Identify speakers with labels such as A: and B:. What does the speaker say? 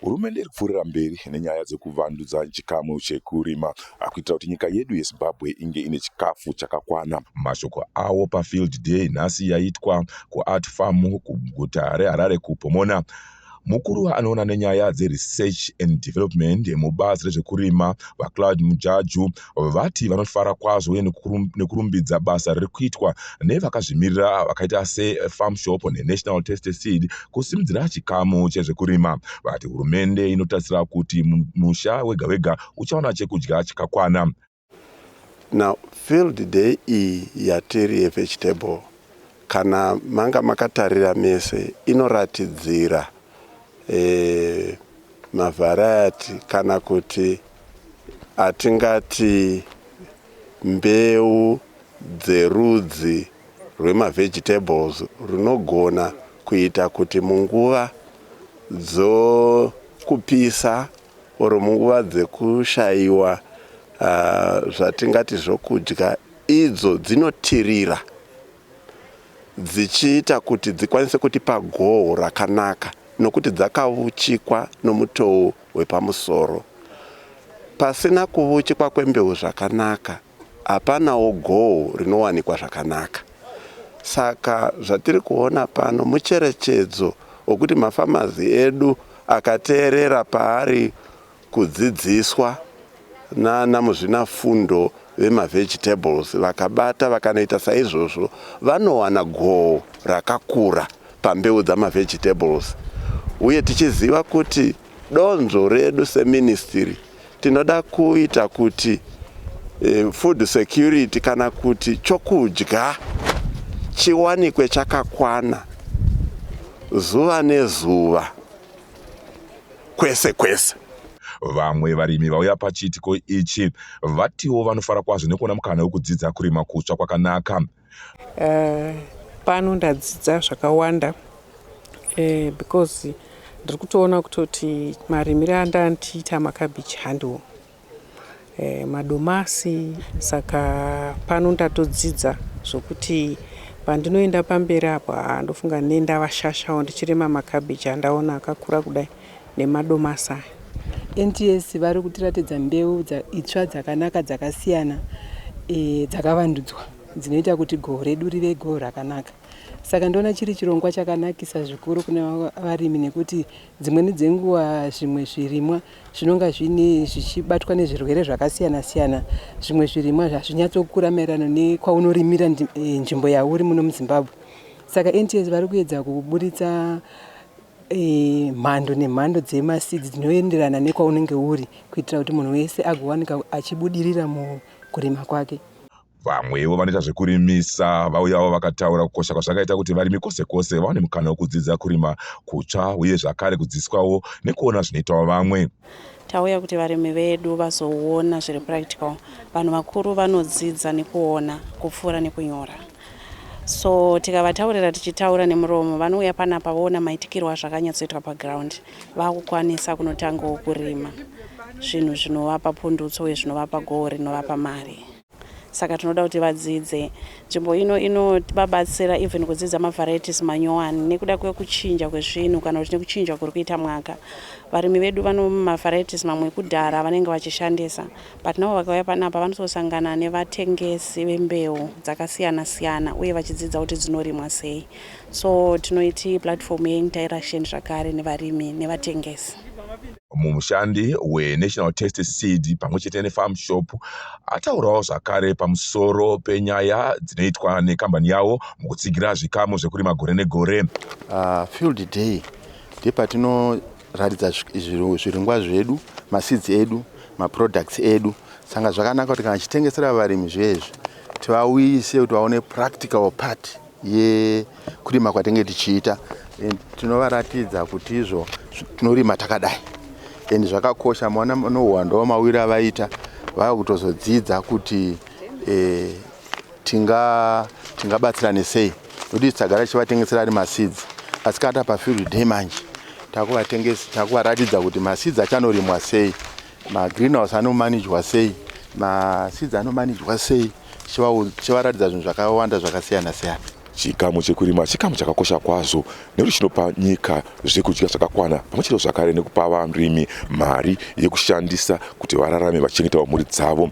A: hurumende iri kupfuurira mberi nenyaya dzekuvandudza chikamu chekurima akuitira kuti nyika yedu yezimbabwe inge ine chikafu chakakwana mashoko awo pafield day nhasi yaitwa kuart farm kuguta reharare kupomona Mukuru anoona nenyaya dzeResearch and Development mubazi rezvekurima, VaCloud Mujaju, vati vanofara kwazvo uye nekurumbidza basa riri kuitwa nevakazvimirira vakaita seFarm Shop neNational Tasty Seed kusimudzira chikamu chezvekurima. Vati hurumende inotarisira kuti musha wega-wega uchawana chekudya chakakwana.
B: Now field day iyi yatiri yevegetable kana manga makatarira mese inoratidzira e, mavhariety kana kuti atingati mbeu dzerudzi rwemavegetables runogona kuita kuti munguva dzokupisa or munguva dzekushaiwa zvatingati zvokudya idzo dzinotirira dzichiita kuti dzikwanise kutipa goho rakanaka nokuti dzakavuchikwa nomutowo wepamusoro. Pasina kuvuchikwa kwembeu zvakanaka hapanawo goho rinowanikwa zvakanaka. Saka zvatiri kuona pano mucherechedzo wekuti mafamazi edu akateerera paari kudzidziswa nana muzvinafundo vemavegetables vakabata vakanoita saizvozvo vanowana goho rakakura pambeu dzamavegetables uye tichiziva kuti donzvo redu seministry Tinoda kuita kuti eh, food security kana kuti chokudya chiwanikwe chakakwana zuva nezuva kwese kwese. Vamwe
A: varimi vauya pachiitiko ichi vatiwo vanofara kwazvo nekuona mukana wekudzidza kurima kutsva kwakanaka. Uh,
C: pano ndadzidza zvakawanda uh, because ndiri kutoona kutoti marimire andandiita makabichi handiwo eh, madomasi saka pano ndatodzidza zvokuti pandinoenda pamberi apo ndofunga nendavashashawo ndichirima makabichi andaona akakura kudai nemadomasi aya.
D: NTS vari kutiratidza mbeu itsva dzakanaka dzakasiyana dzakavandudzwa dzinoita kuti goho redu rive goho rakanaka. Saka ndoona chiri chirongwa chakanakisa zvikuru kune varimi nekuti dzimweni dzenguva zvimwe zvirimwa zvinonga zvine zvichibatwa nezvirwere zvakasiyana siyana. Zvimwe zvirimwa hazvinyatsokura maererano nekwaunorimira eh, nzvimbo yauri muno muZimbabwe. Saka NTS vari kuedza kuburitsa eh, mhando nemhando dzemasidzi dzinoenderana nekwaunenge uri kuitira kuti munhu wese agowanika achibudirira mukurima kwake. Vamwewo
A: vanoita zvekurimisa vauyawo vakataura kukosha kwazvakaita kuti varimi kwose kwose vawane mukana wekudzidza kurima kutsva uye zvakare kudzidziswawo nekuona zvinoitawo vamwe. Tauya kuti
E: varimi vedu vazoona zviri practical. Vanhu vakuru vanodzidza nekuona kupfuura nekunyora. so tikavataurira tichitaura nemuromo vanouya panapa voona maitikirwo azvakanyatsoitwa paground vakukwanisa kunotangawo kurima zvinhu zvinovapa pundutso uye zvinovapa goho rinovapa mari saka tinoda kuti vadzidze nzvimbo ino inovabatsira even kudzidza mavarieties manyowani nekuda kwekuchinja kwezvinhu kana kuti nekuchinja kuri kuita mwaka varimi vedu vano mavarieties mamwe ekudhara vanenge vachishandisa But now vakauya panapa vanososangana nevatengesi vembeu dzakasiyana siyana uye vachidzidza kuti dzinorimwa sei. So tinoiti platform yeinteraction zvakare nevarimi nevatengesi. Mumushandi
A: weNational Taste Seed pamwe chete neFarm Shop ataurawo zvakare pamusoro penyaya dzinoitwa nekambani yawo mukutsigira zvikamu zvekurima gore negore. Uh, field
B: day ndepatino Ratidza zviringwa zvedu, maseeds edu, maproducts edu. Sanga zvakanaka kuti kana chitengesera varimi zvezvi tivauyise kuti vaone practical part yekurima kwatinge tichiita and tinovaratidza kuti izvo tinorima takadai and zvakakosha maona nohuwando wamawiri avaita vava kutozodzidza kuti eh, tingabatsirane tinga sei Kuti tagara tichivatengesera ari maseeds asi kana tapa field day manje takuvatengesa takuvaratidza kuti maseeds achanorimwa sei magreenhouse anomanijwa sei maseeds anomanijwa sei chivaratidza zvinhu zvakawanda zvakasiyana siyana
A: chikamu chekurima chikamu chakakosha kwazvo nekuti chinopa nyika zvekudya zvakakwana pamwe chete zvakare nekupa varimi mari yekushandisa kuti vararame vachichengetawo mhuri dzavo